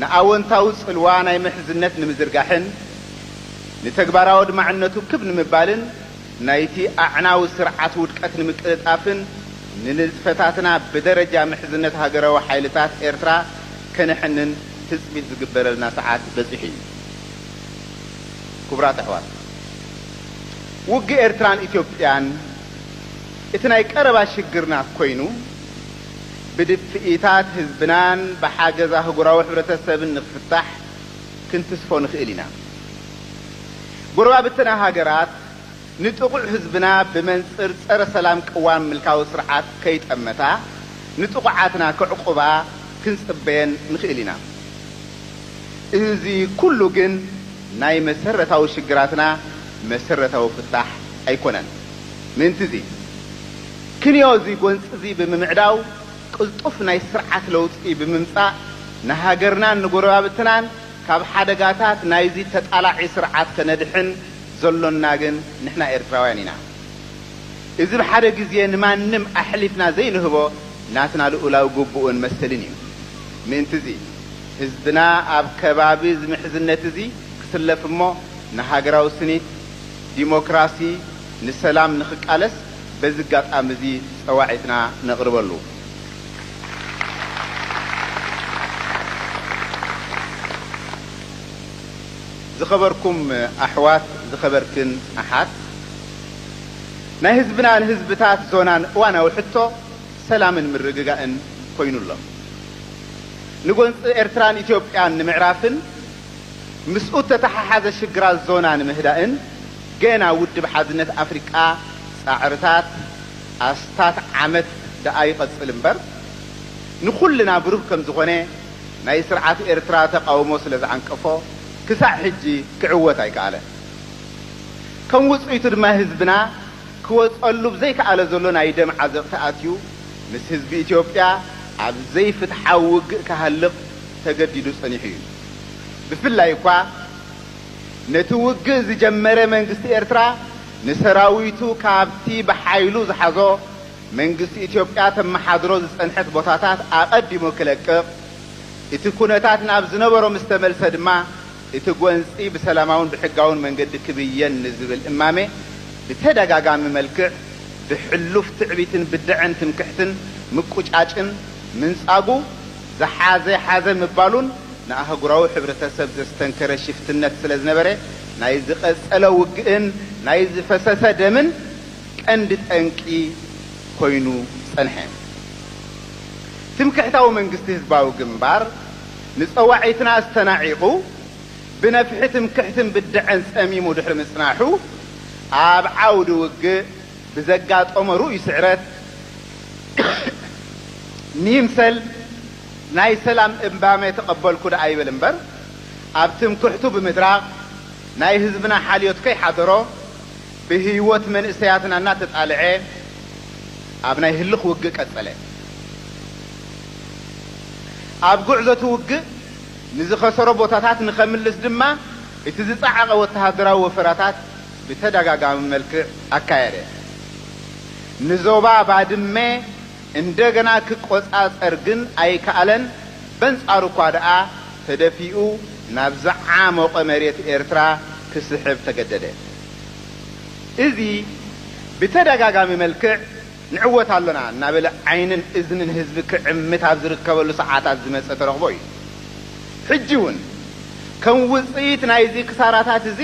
ንኣወንታዊ ጽልዋ ናይ ምሕዝነት ንምዝርጋሕን ንተግባራዊ ኣድማዕነቱ ክብ ንምባልን፣ ናይቲ ኣዕናዊ ስርዓት ውድቀት ንምቅልጣፍን ንንጥፈታትና ብደረጃ ምሕዝነት ሃገራዊ ሓይልታት ኤርትራ ከነሕንን ትጽቢት ዝግበረልና ሰዓት በጺሑ እዩ። ክቡራት ኣሕዋት፣ ውግእ ኤርትራን ኢትዮጵያን እቲ ናይ ቀረባ ሽግርና ኮይኑ፣ ብድፍኢታት ህዝብናን ብሓገዝ ኣህጉራዊ ሕብረተሰብን ንክፍታሕ ክንትስፎ ንክእል ኢና። ጎረባብትና ሃገራት ንጥቑዕ ህዝብና ብመንጽር ጸረ ሰላም ቅዋም ምልካዊ ስርዓት ከይጠመታ ንጥቑዓትና ከዕቑባ ክንጽበየን ንኽእል ኢና። እዚ ኩሉ ግን ናይ መሰረታዊ ሽግራትና መሰረታዊ ፍታሕ ኣይኮነን። ምእንቲ'ዚ ክንዮ እዚ ጎንጺ'ዚ ብምምዕዳው ቅልጡፍ ናይ ስርዓት ለውጢ ብምምጻእ ንሃገርናን ንጎረባብትናን ካብ ሓደጋታት ናይዚ ተጣላዒ ስርዓት ከነድሕን ዘሎና ግን ንሕና ኤርትራውያን ኢና። እዚ ብሓደ ግዜ ንማንም ኣሕሊፍና ዘይንህቦ ናትና ልኡላዊ ግቡእን መሰልን እዩ። ምእንቲ'ዚ ህዝብና ኣብ ከባቢ'ዚ ምሕዝነት'ዚ ክስለፍ እሞ ንሃገራዊ ስኒት፣ ዲሞክራሲ፣ ንሰላም ንክቃለስ በዚ ኣጋጣሚ'ዚ ጸዋዒትና ነቕርበሉ። ዝኸበርኩም ኣሕዋት ዝኸበርክን ኣሓት ናይ ህዝብናን ህዝብታት ዞናን እዋናዊ ሕቶ ሰላምን ምርግጋእን ኮይኑ ኣሎ። ንጎንፂ ኤርትራን ኢትዮጵያን ንምዕራፍን ምስኡ እተተሓሓዘ ሽግራት ዞና ንምህዳእን ገና ውድብ ሓድነት ኣፍሪቃ ፃዕርታት ኣስታት ዓመት ደኣ ይቐጽል እምበር፣ ንኹልና ብሩህ ከም ዝኾነ፣ ናይ ስርዓት ኤርትራ ተቓውሞ ስለ ዝዓንቀፎ፣ ክሳዕ ሕጂ ክዕወት ኣይከኣለን። ከም ውጽኢቱ ድማ ህዝብና ክወጸሉ ብዘይከኣለ ዘሎ ናይ ደም ዓዘቕቲ ኣትዩ፣ ምስ ህዝቢ ኢትዮጵያ ኣብ ዘይፍትሓዊ ውግእ ክሃልቕ ተገዲዱ ጸኒሑ እዩ። ብፍላይ እኳ፣ ነቲ ውግእ ዝጀመረ መንግስቲ ኤርትራ ንሰራዊቱ ካብቲ ብሓይሉ ዝሓዞ መንግስቲ ኢትዮጵያ ተመሓድሮ ዝጸንሐት ቦታታት ኣቐዲሙ ክለቅቕ፣ እቲ ኩነታት ናብ ዝነበሮ ምስ ተመልሰ ድማ እቲ ጎንጺ ብሰላማውን ብሕጋውን መንገዲ ክብየን ንዝብል እማመ ብተደጋጋሚ መልክዕ ብሕሉፍ ትዕቢትን ብደዐን ትምክሕትን ምቁጫጭን ምንጻጉ ዝሓዘ ሓዘ ምባሉን ንኣህጉራዊ ሕብረተሰብ ዘስተንከረ ሽፍትነት ስለ ዝነበረ ናይ ዝቐጸለ ውግእን ናይ ዝፈሰሰ ደምን ቀንዲ ጠንቂ ኮይኑ ጸንሐ። ትምክሕታዊ መንግስቲ ህዝባዊ ግንባር ንጸዋዒትና ኣስተናዒቑ ብነፍሒ ትምክሕትን ብደዐን ጸሚሙ ድሕሪ ምጽናሑ ኣብ ዓውዲ ውግእ፣ ብዘጋጠሞ ርኡይ ስዕረት ንይምሰል ናይ ሰላም እምባመ ተቐበልኩ ደኣ ይበል እምበር፣ ኣብ ትምክሕቱ ብምድራቕ ናይ ህዝብና ሓልዮት ከይሓደሮ ብህይወት መንእሰያትና እናተጣልዐ ኣብ ናይ ህልኽ ውግእ ቀጸለ። ኣብ ጉዕዞ'ቲ ውግእ ንዝኸሰሮ ቦታታት ንኸምልስ ድማ እቲ ዝጸዓቐ ወተሃደራዊ ወፈራታት ብተደጋጋሚ መልክዕ ኣካየደ። ንዞባ ባድመ እንደገና ክቆጻጸር ግን ኣይከኣለን፣ በንጻሩ እኳ ደኣ ተደፊኡ ናብ ዝዓሞቐ መሬት ኤርትራ ክስሕብ ተገደደ። እዚ ብተደጋጋሚ መልክዕ ንዕወት ኣሎና እናበለ ዓይንን እዝንን ህዝቢ ክዕምት ኣብ ዝርከበሉ ሰዓታት ዝመጸ ተረኽቦ እዩ። ሕጂ'ውን ከም ውጽኢት ናይዚ ክሳራታት እዚ፣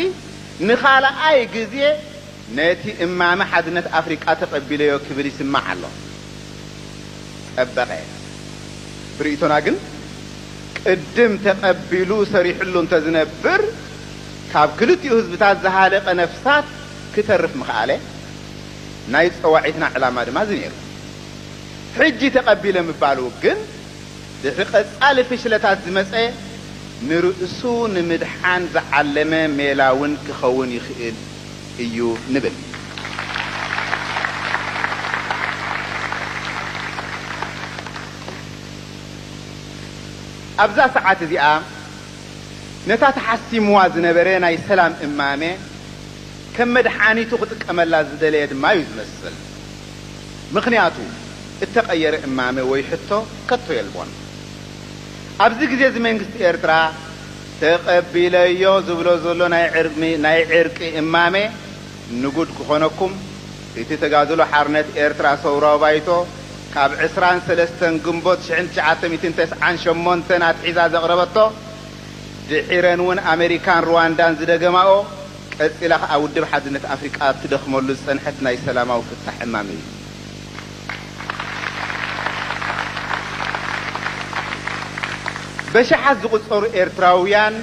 ንኻልኣይ ግዜ ነቲ እማመ ሓድነት ኣፍሪቃ ተቐቢለዮ ክብል ይስማዕ ኣሎ። ጠበቐ ብርእይቶና ግን ቅድም ተቐቢሉ ሰሪሕሉ እንተዝነብር ካብ ክልቲኡ ህዝብታት ዝሃለቐ ነፍሳት ክተርፍ ምኸኣለ፣ ናይ ጸዋዒትና ዕላማ ድማ እዚ ነይሩ። ሕጂ ተቐቢለ ምባሉ ግን፣ ድሕሪ ቀጻሊ ፍሽለታት ዝመጸ ንርእሱ ንምድሓን ዝዓለመ ሜላ እውን ክኸውን ይኽእል እዩ ንብል። ኣብዛ ሰዓት እዚኣ ነታ ተሓሲምዋ ዝነበረ ናይ ሰላም እማመ ከም መድሓኒቱ ክጥቀመላ ዝደለየ ድማ እዩ ዝመስል። ምኽንያቱ እተቐየረ እማመ ወይ ሕቶ ከቶ የልቦን። ኣብዚ ግዜ'ዚ መንግስቲ ኤርትራ ተቐቢለዮ ዝብሎ ዘሎ ናይ ዕርቂ እማመ ንጉድ ክኾነኩም እቲ ተጋድሎ ሓርነት ኤርትራ ሰውራዊ ባይቶ ካብ ዕስራን ሰለስተን ግንቦት ሽሕን ትሽዓተ ሚእትን ተስዓን ሸሞንተን ኣትሒዛ ዘቕረበቶ ድሒረን'ውን ኣመሪካን ርዋንዳን ዝደገማኦ ቀጺላ ከኣ ውድብ ሓድነት ኣፍሪቃ ኣብ ትደኽመሉ ዝጸንሐት ናይ ሰላማዊ ፍታሕ እማመ እዩ። በሽሓት ዝቑጸሩ ኤርትራውያን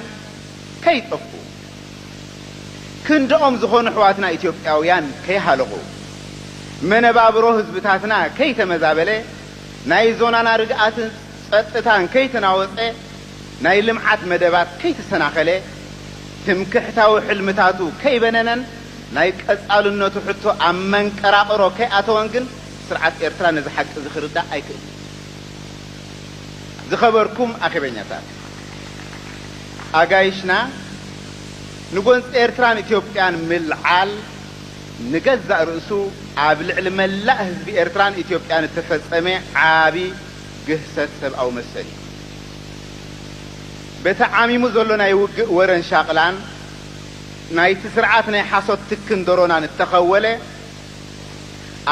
ከይጠፍኡ፣ ክንድኦም ዝኾኑ ኣሕዋትና ኢትዮጵያውያን ከይሃለቑ፣ መነባብሮ ህዝብታትና ከይተመዛበለ፣ ናይ ዞናና ርግኣትን ጸጥታን ከይተናወጸ፣ ናይ ልምዓት መደባት ከይተሰናኸለ፣ ትምክሕታዊ ሕልምታቱ ከይበነነን ናይ ቀጻልነቱ ሕቶ ኣብ መንቀራቕሮ ከይኣተወን ግን ስርዓት ኤርትራ ነዚ ሓቂ'ዚ ክርዳእ ኣይክእልን እዩ። ዝኸበርኩም ኣኼበኛታት፣ ኣጋይሽና ንጎንጺ ኤርትራን ኢትዮጵያን ምልዓል ንገዛእ ርእሱ ኣብ ልዕሊ መላእ ህዝቢ ኤርትራን ኢትዮጵያን እተፈጸመ ዓቢ ግህሰት ሰብኣዊ መሰል እዩ። በቲ ዓሚሙ ዘሎ ናይ ውግእ ወረን ሻቕላን ናይቲ ስርዓት ናይ ሓሶት ትክን ደሮናን እተኸወለ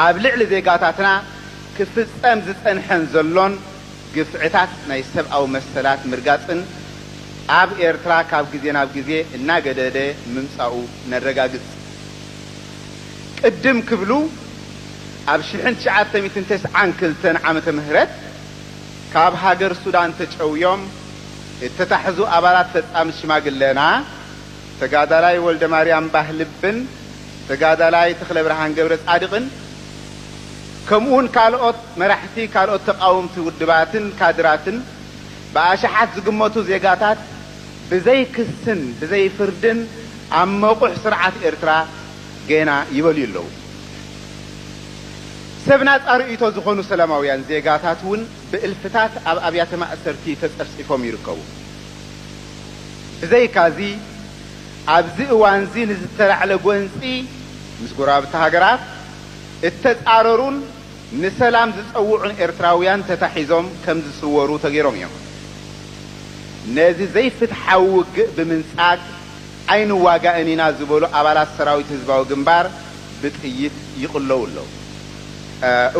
ኣብ ልዕሊ ዜጋታትና ክፍጸም ዝጸንሐን ዘሎን ግፍዕታት ናይ ሰብኣዊ መሰላት ምርጋጽን ኣብ ኤርትራ ካብ ግዜ ናብ ግዜ እናገደደ ምምጻኡ ነረጋግጽ። ቅድም ክብሉ ኣብ ሽሕን ትሽዓተ ሚእትን ተስዓን ክልተን ዓመተ ምህረት፣ ካብ ሃገር ሱዳን ተጨውዮም እተታሕዙ ኣባላት ፈጻሚት ሽማግለና ተጋዳላይ ወልደማርያም ባህልብን ተጋዳላይ ተኽለብርሃን ገብረጻድቕን ከምኡውን ካልኦት መራሕቲ ካልኦት ተቓወምቲ ውድባትን ካድራትን ብኣሽሓት ዝግመቱ ዜጋታት ብዘይ ክስን ብዘይ ፍርድን ኣብ መቑሕ ስርዓት ኤርትራ ጌና ይበልዩ ኣለዉ። ሰብ ናጻ ርእይቶ ዝኾኑ ሰላማውያን ዜጋታት እውን ብእልፍታት ኣብ ኣብያተ ማእሰርቲ ተጸፍጺፎም ይርከቡ። ብዘይካዚ ኣብዚ እዋንዚ ንዝተላዕለ ጎንጺ ምስ ጎረባብቲ ሃገራት እተጻረሩን ንሰላም ዝጸውዑን ኤርትራውያን ተታሒዞም ከም ዝስወሩ ተገይሮም እዮም። ነዚ ዘይፍትሓዊ ውግእ ብምንጻግ፣ ኣይንዋጋእን ኢና ዝበሉ ኣባላት ሰራዊት ህዝባዊ ግንባር ብጥይት ይቕለዉ ኣለዉ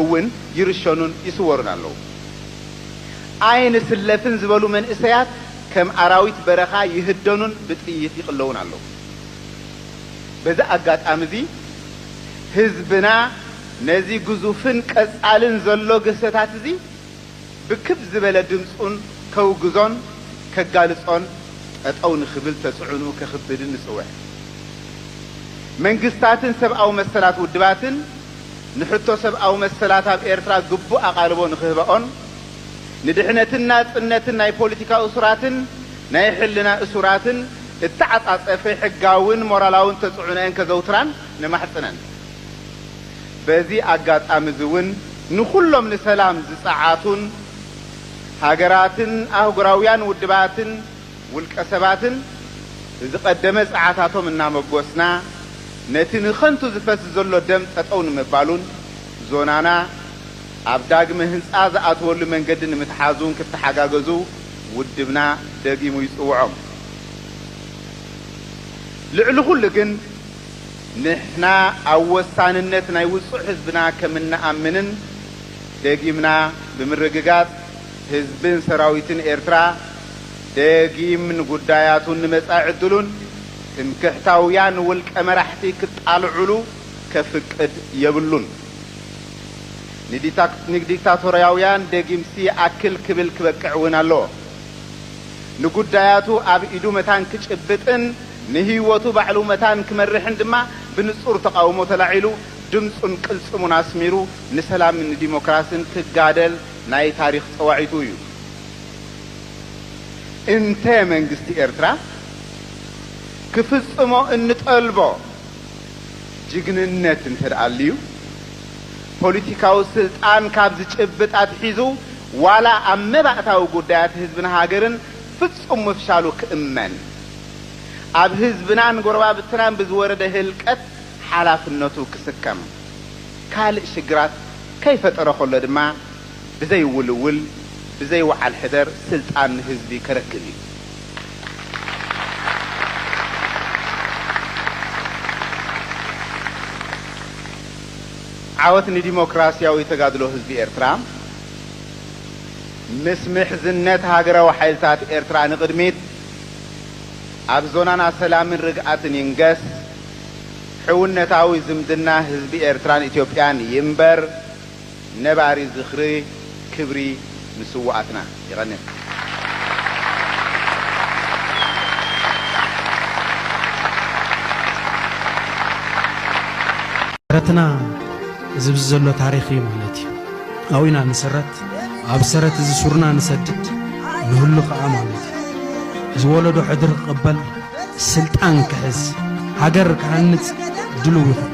እውን ይርሸኑን ይስወሩን ኣለዉ። ኣይንስለፍን ዝበሉ መንእሰያት ከም ኣራዊት በረኻ ይህደኑን ብጥይት ይቕለዉን ኣለዉ። በዚ ኣጋጣሚ እዚ ህዝብና ነዚ ግዙፍን ቀጻልን ዘሎ ግህሰታት እዚ፣ ብክብ ዝበለ ድምጹን ከውግዞን ከጋልጾን ጠጠው ንክብል ተጽዕንኡ ከክብድን ንጽውዕ። መንግስታትን ሰብኣዊ መሰላት ውድባትን ንሕቶ ሰብኣዊ መሰላት ኣብ ኤርትራ ግቡእ ኣቓልቦ ንክህባኦን ንድሕነትን ናጽነትን ናይ ፖሊቲካ እሱራትን ናይ ሕልና እሱራትን እተዓጻጸፈ ሕጋውን ሞራላውን ተጽዕኖኤን ከዘውትራን ነማሕጽነን። በዚ ኣጋጣሚ'ዚ ውን ንኹሎም ንሰላም ዝጸዓቱን ሃገራትን ኣህጉራውያን ውድባትን ውልቀሰባትን ብዝቐደመ ጸዓታቶም እናመጎስና ነቲ ንኸንቱ ዝፈስ ዘሎ ደም ጠጠው ንምባሉን ዞናና ኣብ ዳግመ ህንጻ ዝኣትወሉ መንገዲ ንምትሓዙን ክተሓጋገዙ ውድብና ደጊሙ ይጽውዖም። ልዕሊ ኹሉ ግን፣ ንሕና ኣብ ወሳንነት ናይ ውጹዕ ህዝብና ከም እንኣምንን ደጊምና ብምርግጋጽ፣ ህዝብን ሰራዊትን ኤርትራ ደጊም ንጉዳያቱን ንመጻኢ ዕድሉን ትምክሕታውያን ውልቀ መራሕቲ ክጣልዑሉ ከፍቅድ የብሉን። ንዲክታቶርያውያን ደጊምሲ ይኣክል ክብል ክበቅዕ እውን ኣለዎ። ንጉዳያቱ ኣብ ኢዱ መታን ክጭብጥን፣ ንህይወቱ ባዕሉ መታን ክመርሕን ድማ ብንጹር ተቓውሞ ተላዒሉ ድምጹን ቅልጽሙን ኣስሚሩ ንሰላምን ንዲሞክራስን ክጋደል ናይ ታሪኽ ጸዋዒቱ እዩ። እንተ መንግስቲ ኤርትራ ክፍጽሞ እንጠልቦ ጅግንነት እንተድኣ ኣልዩ፣ ፖሊቲካዊ ስልጣን ካብ ዝጭብጥ ኣትሒዙ ዋላ ኣብ መባእታዊ ጉዳያት ህዝብን ሃገርን ፍጹም ምፍሻሉ ክእመን፣ ኣብ ህዝብናን ጎረባብትናን ብዝወረደ ህልቀት ሓላፍነቱ ክስከም ካልእ ሽግራት ከይፈጠረ ከሎ ድማ ብዘይ ውልውል ብዘይ ውዓል ሕደር ስልጣን ንህዝቢ ከረክብ እዩ። ዓወት ንዲሞክራሲያዊ ተጋድሎ ህዝቢ ኤርትራ! ምስ ምሕዝነት ሃገራዊ ሓይልታት ኤርትራ ንቕድሚት! ኣብ ዞናና ሰላምን ርግኣትን ይንገስ፣ ሕውነታዊ ዝምድና ህዝቢ ኤርትራን ኢትዮጵያን ይንበር፣ ነባሪ ዝኽሪ ክብሪ ንስውኣትና። ይቐኔል። ተረትና እዚ ብዚ ዘሎ ታሪኽ እዩ ማለት እዩ። ኣዊና ንስረት ኣብ ሰረት እዚ ሱርና ንሰድድ ንህሉ ከኣ ማለት እዩ ዝወለዶ ሕድሪ ክቕበል ስልጣን ክሕዝ ሃገር ክሃንጽ ድልው ይኹን